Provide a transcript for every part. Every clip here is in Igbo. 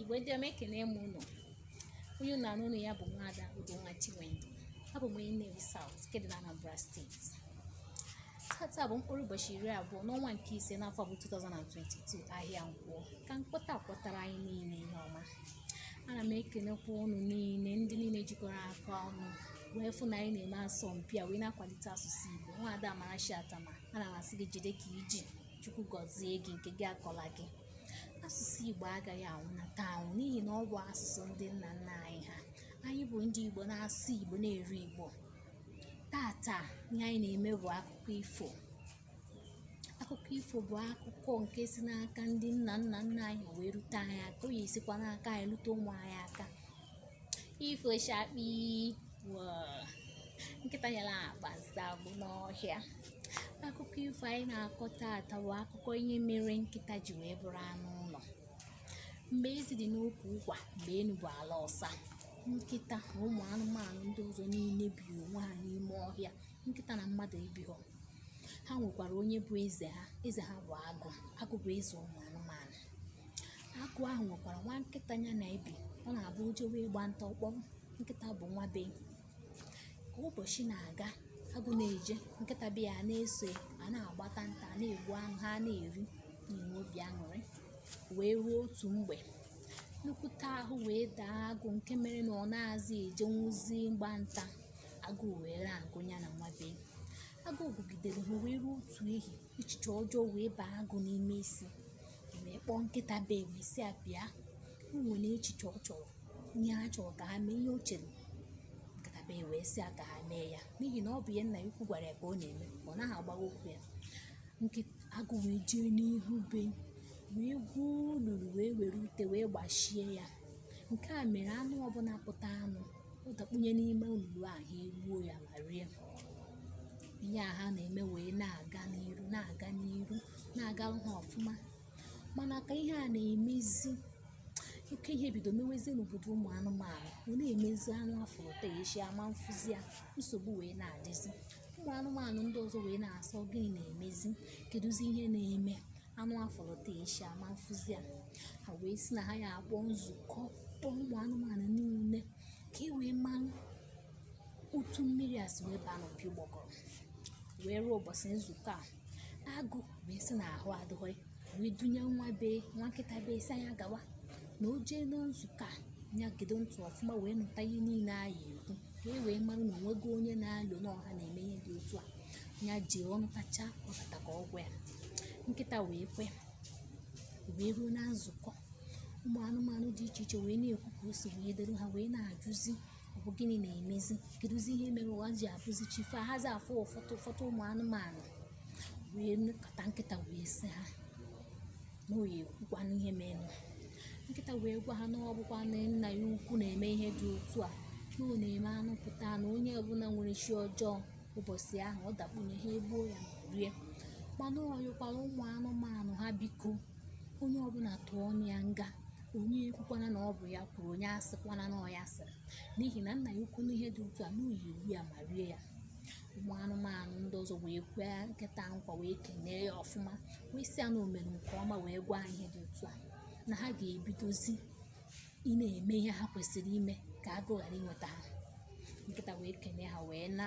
igbo ndị ọma ekene m ụnụ onye ụnụ na-anụ olu ya bụ nwaada Udonwa Chinwendu abụ m onye Nnewi South nke dị na Anambra steeti tata bụ mkpụrụ ụbọchị iri abụọ n'ọnwa nke ise n'afọ bụ 2022 ahịa nkwọ ka nkwọ taa kwọtara anyị niile ihe ọma ana m ekenekwa ụnụ niile ndị niile jikọrọ aka ọnụ wee fụ na anyị na-eme asọmpi a wee na-akwalite asụsụ Igbo nwaada Amarachi Atama ana m asị gị jide ka i ji chukwu gọzie gị nke gị akọla gị asụsụ igbo agaghị anwụ na taụn n'ihi na ọ bụ asụsụ ndị nna nna anyị ha anyị bụ ndị igbo na-asụ igbo na-eri igbo tata ihe anyị na-eme bụ akụkọ ifo akụkọ ifo bụ akụkọ nke si n'aka ndị nna nna nna anyị wee rute anyị aka ọ ya-esikwa n'aka anyị rute ụmụ anyị aka ifo shakpi nkịta nyara akpa nsị agwụ n'ọhịa akụkọ ifo anyị na-akọ taata bụ akụkọ ihe mere nkịta ji wee bụrụ anụ ụlọ mgbe ezi dị n'ukwu ụkwa mgbe enu bụ ala ọsa nkịta na ụmụ anụmanụ ndị ọzọ niile bi onwe ha n'ime ọhịa nkịta na mmadụ ebighọ ha nwekwara onye bụ eze ha eze ha bụ agụ agụ bụ eze ụmụ anụmanụ agụ ahụ nwekwara nwa nkịta ya na ya bi ọ na-abụ o jewe ịgba nta ọ kpọrọ nkịta bụ nwa be ka ụbọchị na-aga agụ na-eje nkịta be ya na-eso ya, ha na-agbata nta ha na-egbu anụ ha na-eri na-enwe obi aṅụrị wee ruo otu mgbe nnukwute ahụ wee daa agụ nke mere na ọ nazị ejenwuzi mgba nta agụụ wee na-agụ ya na nwa be agụụ gụgidere ha wee ruo otu ehi echiche ọjọọ wee baa agụ n'ime isi wee kpọọ nkịta be wee sị ya bịa o nwere echiche ọ chọrọ ihe a chọrọ ka ha mee ihe o chere nkịta be wee sị ya ka ha mee ya n'ihi na ọ bụ ihe nna ya ukwu gwara ya ka ọ na-eme ọ naghị agbagha okwu ya agụ wee jee n'ihu be wee gwuo olulu wee were ute wee gbachie ya nke mere anụ ọbụla pụtanụ ọ dakpunye n'ime olulu a ha egbuo ya ma rie ihe a ha na-eme wee na-aga n'iru na-aga n'iru na-agarụ ha ọfụma mana ka ihe a na-emezi oke ihe bido mewezi n'obodo ụmụ anụmanụ ọ na-emezi anụ a fụrụ taa echi a ma mfụzi ya nsogbu wee na-adịzi ụmụ anụmanụ ndị ọzọ wee na-asị ọ gịnị na-emezi kedụzi ihe na-eme anụ a fụrụ taa echi a ma mfụzi ya ha wee sị na ha ya-akpọ nzukọ kpọọ ụmụ anụmanụ niile ka e wee marụ otu mmiri a si wee baa n'opi ụgbọgọrọ wee ruo ụbọchị nzukọ a agụ wee sị na ahụ adịghị wee dunye nwa be nwa nkịta be sị a nya gawa na o jee na nzukọ a ya gedo ntị ọfụma wee nụta ihe niile a ya-ekwu ka e wee mara na o nwego onye na-alọ na ọ ha na-eme ihe dị otu a ya jee ọ nụtacha ọ bata ka ọ gwa ya nkịta wee kwe wee ruo na nzukọ ụmụ anụmanụ dị iche iche wee na-ekwu ka o si wee dịrị ha wee na-ajụzi ọ bụ gịnị na-emezi kedụzi ihe mere ụwa ji abụzi chi fo ahazi afụ ụfọdụ ụfọdụ ụmụ anụmanụ wee kata nkịta wee sị ha na ọ ya-ekwukwanụ ihe mere nkịta wee gwa ha na ọ bụkwa na nna ya ukwu na-eme ihe dị otu a na ọ na-eme anụ pụta na onye ọbụla nwere chi ọjọọ ụbọchị ahụ ọ dakpunye ha egbuo ya ma rie mana ọ yọkwara ụmụ anụmanụ ha biko onye ọbụla tụọ ọnụ ya nga onye ekwukwana na ọ bụ ya kwuru onye asịkwana na ọ ya sịrị n'ihi na nna ya ukwu nụ ihe dị otu a na ọ ya-egbu ya ma rie ya ụmụ anụmanụ ndị ọzọ wee kwee nkịta nkwa wee kenee ya ọfụma wee sị ya na o mere nke ọma wee gwa ha ihe dị otu a na ha ga-ebidozi ịna-eme ihe ha kwesịrị ime ka agụ ghara inweta ha nkịta wee kenee ha wee na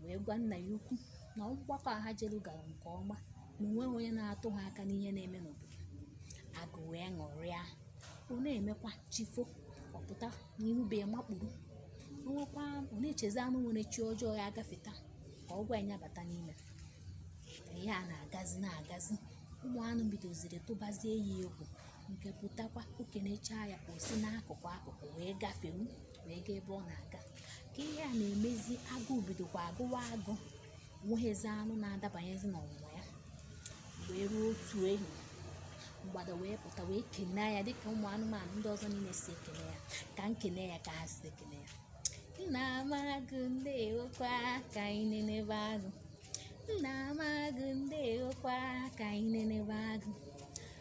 wee gwa nna ya ukwu na mgbakọ a ha jelu gara nke ọma na o nweghị onye na-atụ ha aka n'ihe na-eme n'obodo agụ wee ṅụrịa ọ na-emekwa chi fo ọ pụta n'ihu be ya makpuru nwekwa ọ na-echezi anụ nwere chi ọjọọ ya-agafeta ka ọ gwa ya bata n'ime ihe a na-agazi na-agazi ụmụ anụ bidoziri tụbazie ya egwu nke pụtakwa o kenechaa ya o si n'akụkụ akụkụ wee gafewu wee gaa ebe ọ na-aga ka ihe a na-emezi agụụ bidokwa agụwa agụ o nweghịzi anụ na-adabanyezi n'ọnwụnwa ya wee ruo otu ehi mgbada wee pụta wee kenee ya dịka ụmụ anụmanụ ndị ọzọ niile si ekene ya ka m kene ya ka ha si ekene ya nna m agụ ndewokwa ka anyị nenebe agụ nna m agụ ndewokwa ka anyị nenebe agụ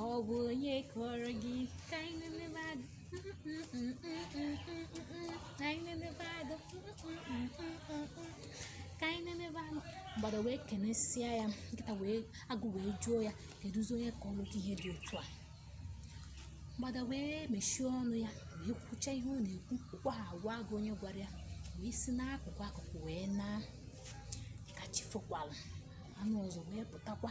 ọ bụ onye kọrọ gị ka anyị nenebe agụ ka anyị nenebe agụ ka anyị nenebe agụ mgbada wee kenesịa ya nkịta wee agụ wee jụọ ya kedụzi onye kọrọ gị ihe dị otu a mgbada wee mechie ọnụ ya wee kwucha ihe ọ na-ekwu o kweghị agwa agụ onye gwara ya wee si n'akụkụ akụkụ wee na ka chi fokwalụ anụ ọzọ wee pụtakwa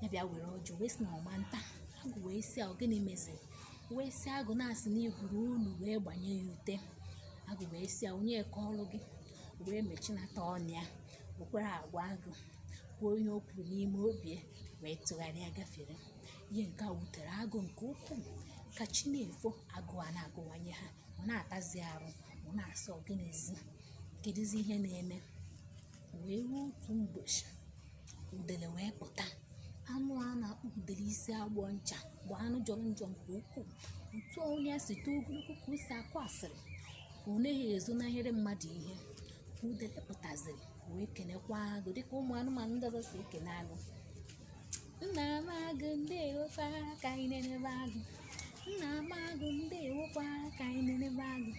ya bịa were ọjị wee sị na ọ ma nta agụ wee sị ọ gịnị meziri wee sị agụ na a sị na i gwuru ọnụ wee gbanye ya ute agụ wee sị a onye kọrọ gị wee mechinata ọnụ ya o kwerọ agwa agụ kwuo ihe o kwuru n'ime obi wee tụgharịa gafere ihe nke a wutere agụ nke ukwuu ka chi na-efo agụụ ana-agụwanye ha ọ na-atazi arụ ọ na-asị ọ gịnịzi kedụzi ihe na-eme wee ruo otu mbọchị udele wee pụta anụ a na-akpọ udele isi agbọ ncha bụ anụ jọrọ njọ nke ukwuu otu onu ya si too ogologo ka o si akụ asịrị ọ naghị ezonahịrị mmadụ ihe udele pụtaziri wee kenekwa agụ dịka ụmụ anụmanụ ndị ọzọ si ekene agụ nna m agụ ndewokwa ka anyị nenebe agụ nna m agụ ndewokwa ka anyị nenebe agụ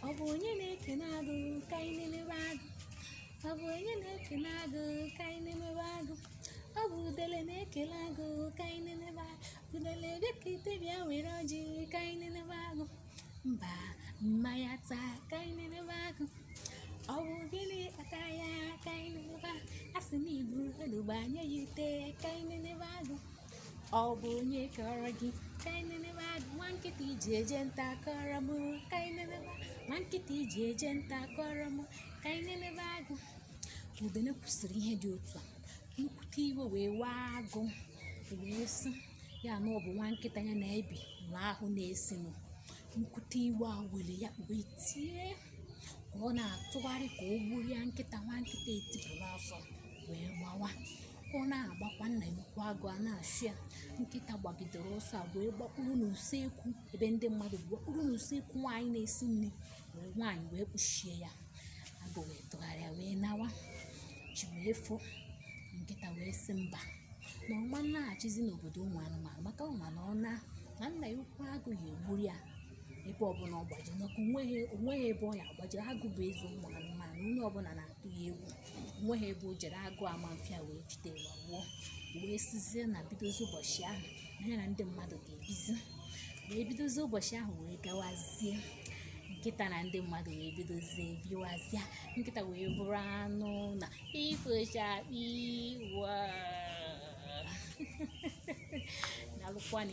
ọ bụ onye na-ekene agụ ka anyị nenebe agụ ọ bụ onye na-ekene agụ ka anyị nenebe agụ ọ bụ udele na-ekele agụ ka anyị nenebe agụ udele bịakete bịa were ọjị ka anyị nenebe agụ mba m ma ya ata ka anyị nenebe agụ ọ bụ gịnị kpata ya ka anyị nenebe agụ a sị na iburu anụ gbanye ya ute ka anyị nenebe agụ ọ bụ onye kọrọ gị ka anyị nenebe agụ nwa nkịta iji eje nta kọrọ m ka anyị nenebe agụ nwa nkịta iji eje nta kọrọ m ka anyị nenebe agụ udene kwusịrị ihe dị otu a nnukwute iwe wee waa agụ wee sị ya na ọ bụ nwa nkịta ya na ya bi na ahụ na-esi nnukwute iwe ewere ya ọ wee tie ka ọ na-atụgharị ka o gburu ya nkịta nwa nkịta etipụ n'ọsọ wee gbawa ọ na-agbakwa nna ya ukwu agụ a na-achụ ya nkịta gbagidere ọsọ a wee gbakpuru n'usekwu ebe ndị mmadụ bi gbakpuru n'usekwu nwaanyị na-esi nri wee nwaanyị wee kpuchie ya agụ wee tụgharịa wee nawa chi wee fo nkịta wee sị mba na ọ ma naghachizi n'obodo ụmụ anụmanụ maka ọ ma na ọ naa na nna ya ukwu agụ ya egburu ya ebe ọbụla ọ gbaji maka onweghị onweghị ebe ọ ya agbaji agụ bụ eze ụmụ anụmanụ onye ọbụla na-atụ ya egwu onweghị ebe o jere agụ ama afụ ya wee jide ya gbuo wee sizie na bidozi ụbọchị ahụ na ya na ndị mmadụ ga-ebizi wee bidozie ụbọchị ahụ wee gawazie nkịta na ndị mmadụ wee bidozie biwazie nkịta wee bụrụ anụ ụnọ ifo chakpii wọọ na alụkwana